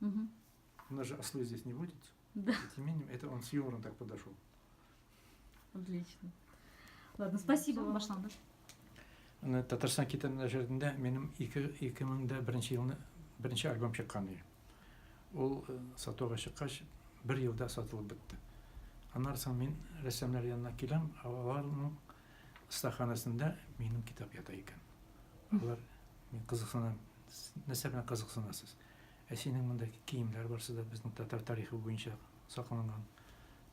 Угу. У нас же ослы здесь не водятся. Да. И тем не менее, это он с юмором так подошел. Отлично. Ладно, спасибо вам. Башланды. Татарстан китап нәшәрендә минем 2001 елны беренче альбом чыккан иде. Ул э, сатуга чыккач, бер елда сатылып бетте. Аннан соң мин рәссамнар янына киләм, аларның стаханасында минем китап ята икән. Алар мин кызыксынам. Нәрсә белән кызыксынасыз? Ә синең монда киемнәр барсы да безнең татар тарихы буенча сакланган.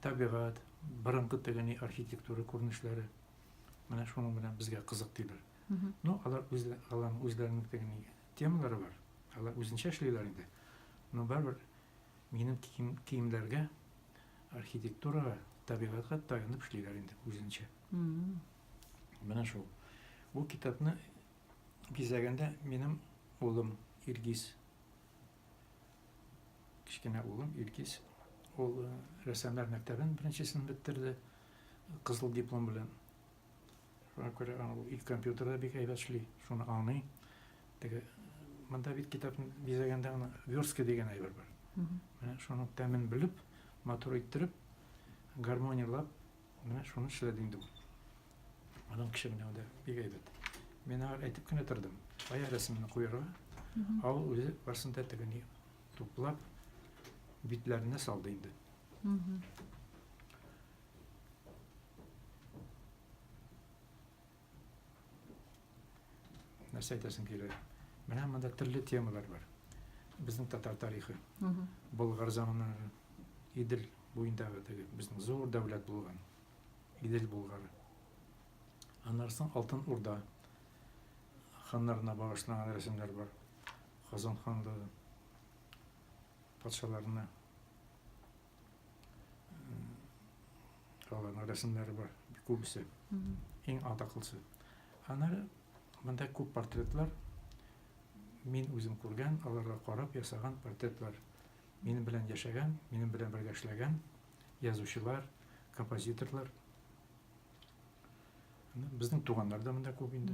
Табигать, борынгы тегени архитектура күренешләре. Менә шуның белән безгә кызык диләр. Ну, алар үз, аларның үзләренең тегени темалары бар. Алар үзенчә эшлиләр инде. Но барыбер минем кием, киемнәргә архитектурага, табигатька таянып эшлиләр инде үзенчә. Менә шул. Бу китапны бизәгәндә минем улым Илгиз кечкенә улым Илгиз ул э, рәссамнар мәктәбен беренчесен беттерде кызыл диплом белән шуңа күрә ул ил компьютерда бик әйбәт эшли шуны аңлый теге монда бит китапны бизәгәндә аны верстка дигән әйбер бар менә шуның тәмен белеп матур иттереп гармониялап Менә шуны эшләде инде ул. Аның кеше менә анда бик әйбәт. Мин аңа әйтеп кенә тордым. Кая рәсемне куярга? Ә ул үзе барсын да тегене туплап битләренә салды инде. нәрсә әйтәсең килә менә монда төрле темалар бар безнең татар тарихы болгар заманнары идел буендагы теге безнең зур дәүләт булган идел болгары аннан соң алтын урда ханнарына багышланган рәсемнәр бар казан ханлыгы патшаларына Аларның рәсемнәре бар, күбесе. Иң атаклысы. Аннары монда күп портретлар. Мин үзем күргән, аларга карап ясаган портретлар. Минем белән яшәгән, минем белән бергә эшләгән язучылар, композиторлар. Безнең туганнар да монда күп инде.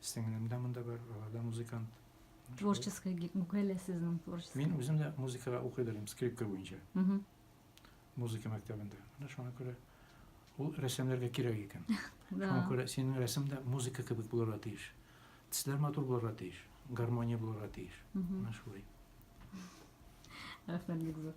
Сеңлем дә монда бар, алар да музыкант. Творческий бүкәлә сезнең творческий. Мин үзем дә музыкага укый да идем, скрипка буенча. Музыка мәктәбендә. Менә шуңа күрә ул рәссамнарга кирәк икән. Шуңа күрә синең рәсем дә музыка кебек булырга тиеш. Тисләр матур булырга тиеш, гармония булырга тиеш. Менә шулай. Рәхмәт бик зур.